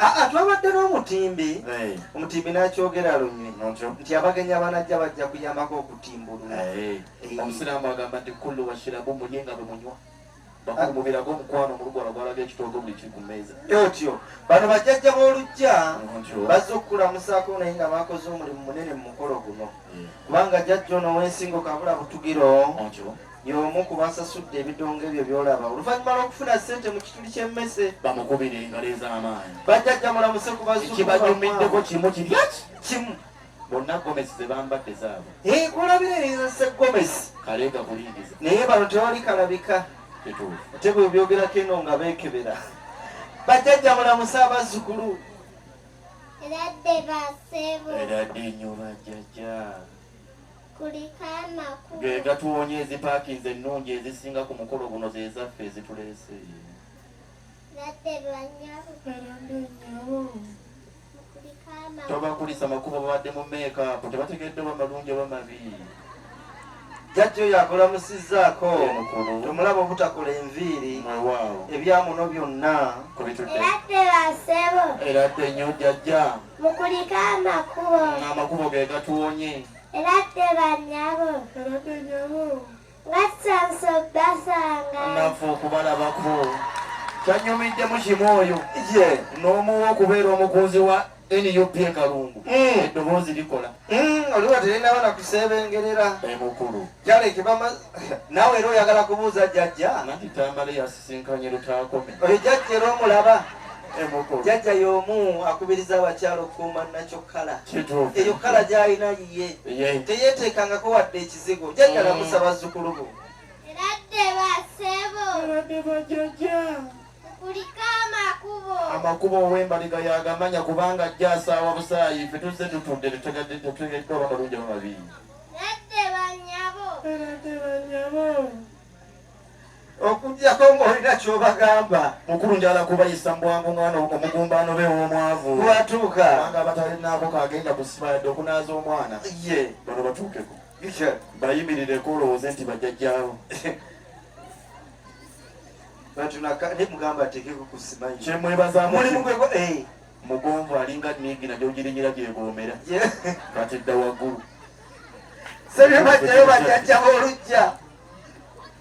Ah, ah, twabadde n'omutimbi eh. omutimbi nakyogera lunywe nti abagenyi abanajja bajja kuyambako okutimbulula eh. Eh. omusiraamu agamba nti kullu washirabu mulye nga bwemunywa bakumubirako omukwano omulugwala gwalaga ekitoogo buli kiri ku meeza otyo bano bajjajja b'olujja bazze okukulamusaako naye nga bakoze omulimu munene mu mukolo guno kubanga jajja ono w'ensingo kabula butugiro y'omu ku basasudde ebidongo ebyo by'olaba oluvannyuma lw'okufuna ssente mu kituli ky'emmese bamukubira engalo ez'amaanyi bajjajja mulamuse ku bazukukibanyumiddeko kimu kirya kimu bonna gomesi ze bambadde zaabo kulabira eyinzase gomesi kaleega kulingiza naye bano tewali kalabika ate bwe byogerako eno nga beekebera bajjajja mulamuse abazzukulu eradde basebo eradde nnyo bajjajja ge gatuwonya ezipaakinze ennungi ezisinga ku mukolo guno zezaffe ezituleese tobakulisa makubo babadde mu meekaapu tebategedde oba malungi oba mabi jajja oyo akolamusizzaako mukulu tomulaba obutakola enviiri mwewaawo ebyamuno byonna kubituddeerabasebo era dde nnyo jajja mukulike amakubo amakubo ge gatuwonye Eradde banyabo. Eradde nyabo. Batsanso basanga. Nafu okubalabako. Kyanyumidde mu kimu oyo. Ye. N'omuwa okubeera omukunzi wa nup e kalungu hmm. eddoboozi likola hmm, oliwa telinaba nakusebengerera emukulu kyalekibama nawe era oyagala kubuuza jajja sinkanye lutaakome oyo jajja era omulaba jajja y'omu akubiriza abakyala okukuuma nakyo kkala eyo kkala gy'alina yiye teyeeteekangako wadde ekizigo jajja lamusa mm. bazzukulu bo amakubo ow'embaliga yagamanya kubanga ajja asaawa busaayi fe tuzze tutudde tetutegeddwa bamalungi amabii okujjako ng'olina ky'obagamba mukulu njala kubayisa mubwangu omwana omugumbaano be w'omwavu watuuka kubanga abatalinaako kagenda kusiba yadde okunaaza omwana ye bano batuukeko bayimirireko olowooze nti bajjajjaawo kyemwebazamugwe eh. mugonvu alinga nigi najo girinyira gyeboomera kati dda waggulu sebyo bajjayo bajjajjaba olujja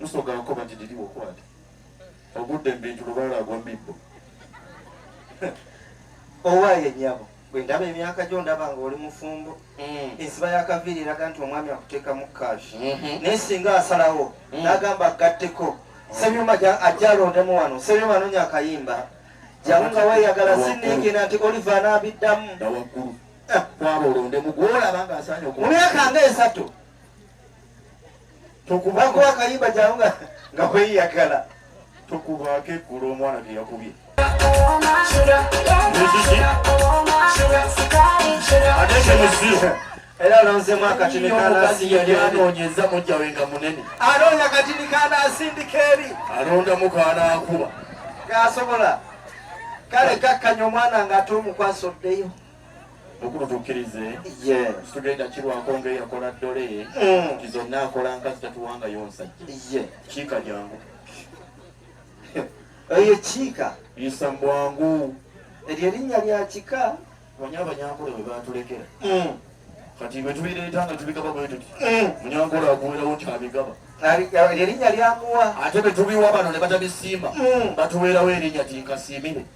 musoga nkoba nti didi wokwate ogudde mubintu lubaala agwa mibbo owaye nyabo bwe ndaba emyaka gyo ndaba nga oli mufumbo mm. ensiba yakaviiri eraga nti omwami akuteekamu cash mm-hmm. naye singa asalawo mm. nagamba agatteko mm. sebyuma ajja alondemu wano sebyuma anonya akayimba jamu nga weyagala siningina nti oliva anabiddamu eh. mu myaka nga esatu tokubako akayimba jangu nga nga kweyagala tokubako eggulu omwana teyakubye era lonzemu akatini kanasiyanonyeza mujja we nga munene alonda katini kanasindika eri alondamu kanakuba gasobola kale kakkanya omwana nga ate omukwasa oddeyo mukulu tukkirize tugenda kirwako nga eyakola ddole mm. nti zonna akola nkazi tatuwangayo nsajja kiika jangu eyo kiika isa mbwangu eryo erinnya lya kika manya abanyankole bwe batulekera mm. kati bwe tubireeta nga tubigaba bwe tuti mm. munyankole akuwerawo nti abigaba erinnya lyamuwa ate bwe tubiwa bano ne batabisimba batuweerawo erinnya tinkasiimire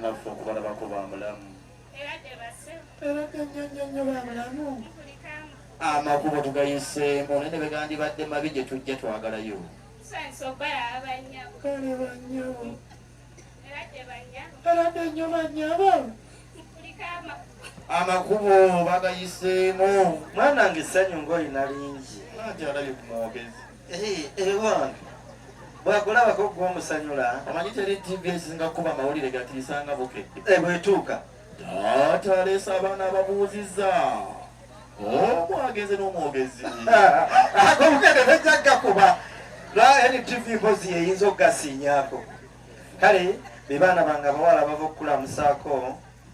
naffe okubalabako ba mulamu era ganyanya nnyo ba mulamu amakubo tugayiseemu naye ne begandibadde mabi gye tujja twagalayo kale banyabo era dde nnyo banyabo amakubo bagayiseemu mwana nge essanyu ng'olina lingi ati alabye ku mwogezi bwakulabako gwe omusanyula omanyi teri tv esinga kuba mawulire gatiisanga bukedde eh, bwetuuka taata aleesa abaana ababuuziza omwagezi oh, n'omwogezi akobukede bajja gakuba lwa ntv mpozi yeyinza okugasiinyako kale bebaana bange abawala bava okukulamusaako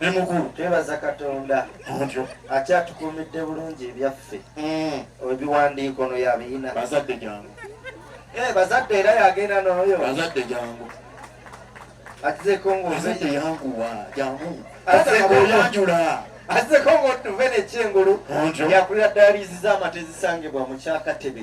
ne mukulu twebaza katonda otyo akyatukuumidde bulungi ebyaffe mm. ebiwandiiko no yabiyina bazadde jangu eh, bazadde era yagenda nooyo bazadde jangu atizeko ngozadde yanguwa jangu atekoyanjula azeko ngotuve nekyengulu yakulira dayaliizi z'amata ezisangibwa mu kyakatebe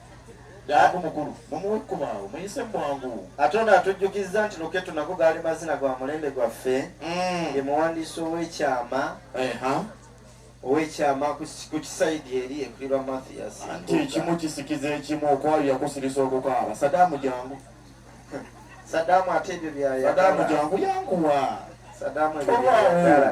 Daaku mukulu mumuwe ekkubo awo muyise bwangu. Ate ono atujjukizza nti Luketu nago gaali mazina gwa mulembe gwaffe mm. ye muwandiisi ow'ekyama ow'ekyama ku kisaidi eri ekulirwa Mathias nti ekimu kisikiza ekimu okwawuya kusirisa okukaaba Sadaamu jangu Sadaamu ate ebyo byayagala Sadaamu jangu yanguwa Sadaamu ebyo byayagala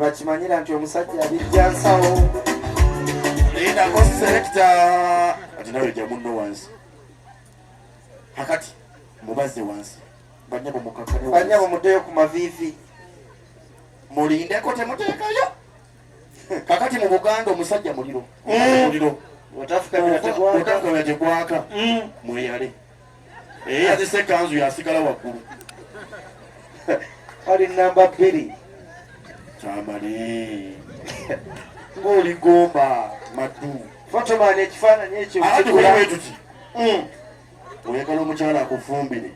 bakimanyira nti omusajja abijja nsawo lindako selekita kati nawe ja munno wansi akati mubaze wansi banyabo mukakane banyabo mudeyo ku mavivi mulindeko temuteekayo kakati mu buganda omusajja muliro mm. muliro otafukamira tegwaka mm. mweyale eyazise eh, ekanzu yasigala waggulu ali namba bbiri kyamali ng'oli gomba maddu fotomani ekifaananyi ekyo tuti hmm. oyagala omukyala akufumbire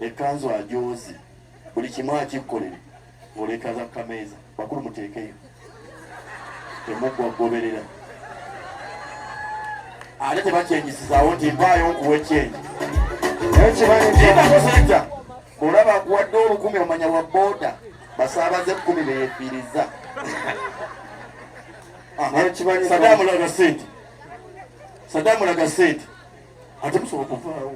ekanzu ajozi buli kimu akikkolere ng'oleeta za kameeza bakulu muteekeyo temuggwa kugoberera ate tebakyenyisizaawo nti mpaayo nkuwa ekyenyi ekibaeakosaja olaba akuwadde olukumi omanya wa booda basaabaze ekkumi beyefiiriza sadamulaga sente sadamulaga sente ate musobola kuvaawo